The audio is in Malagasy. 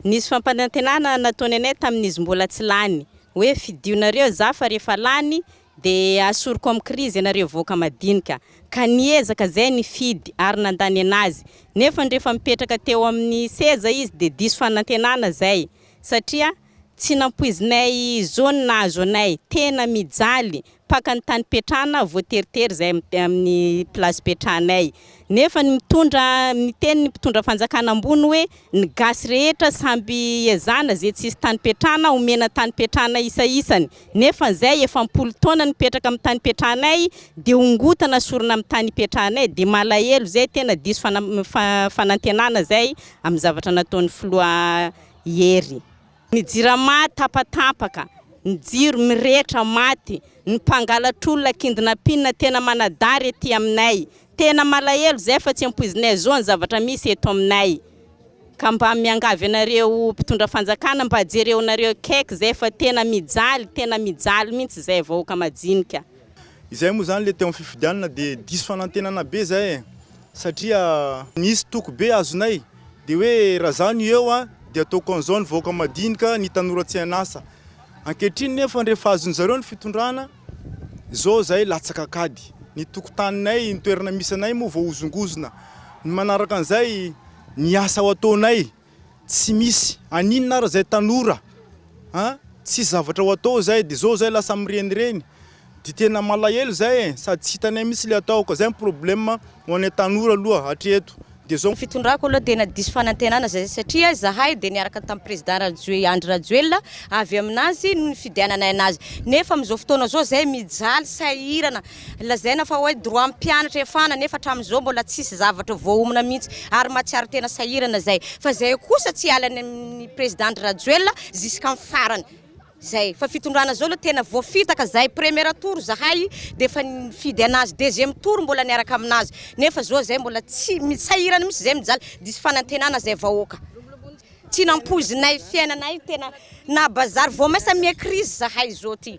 Nisy fampanantenana nataony anay tamin'izy mbola tsy lany hoe fidionareo za fa rehefa lany de asoriko am krizy anareo vahoaka madinika ka niezaka zay nifidy ary nanda nenazy nefany rehefa mipetraka teo aminy seza izy de diso fanantenana zay satria tsy nampoizinay zo ny nahazo anay tena mijaly mpaka ny tany ipetrahana voateritery izay amin'ny place ipetrahanay nefa ny mitondra miteny ny mpitondra fanjakana ambony hoe ny gasy rehetra samby ezahana izay tsy hisy tany ipetrahana homena tany ipetrahana isa isany nefa izay efa am-polo taona nipetraka amin'ny tany ipetrahanay dia hongotana sorona amin'ny tany ipetrahanay dia malahelo izay tena diso fana- fa- fanantenana izay amin'ny zavatra nataon'ny filoha Hery. Ny jirama tapatapaka, ny jiro mirehitra maty, ny mpangalatr'olona kindinapinina tena manadary ety aminay. Tena malahelo izay fa tsy ampoizinay zo ny zavatra misy eto aminay. Ka mba miangavy anareo mpitondra fanjakana mba jereonareo akaiky izay fa tena mijaly, tena mijaly mihintsy izay vahoaka majinika. Izay moa izany ilay teo amin'ny fifidianana dia diso fanantenana be izay e! satria nisy toky be azonay dia hoe raha izaho no eo dia ataoko an'izao ny vahoaka madinika, ny tanora tsy an'asa. Ankehitriny nefa rehefa azon'ny zareo ny fitondrana, izao izahay latsaka an-kady. Ny tokotaninay, ny toerana misy anay moa voahozongozona. Ny manaraka an'izay, ny asa ho ataonay. Tsy misy aninona ary zay tanora a! Tsisy zavatra ho atao zay de zao zay lasa mirenireny de tena malahelo zay e! Sady tsy hitanay mihitsy le atao ka zay ny problème ho anay tanora aloha hatreto de zao. Fitondrako aloha tena diso fanantenana zay satria zahay de niaraka tam président Rajoe Andry Rajoelina avy aminazy no nifidiananay anazy nefa amizao fotoana zao zay mijaly sahirana Lazaina fa hoe droit ny mpianatra hiafana nefa hatramin'izao mbola tsisy zavatra voaomana mihitsy ary mahatsiaro tena sahirana zay fa zay kosa tsy hiala any amin'ny président Andry Rajoelina jusqu'en farany zay fa fitondrana zao aloha tena voafitaka zay première tour zahay defa nifidy anazy deuxième tour mbola niaraka aminazy nefa zao zay mbola tsy mi- sahirana mihitsy zay mijaly diso fanantenana zay vahoaka tsy nampoizinay fiainanay tena na bazary vao maisa mi-crise zahay zao ty.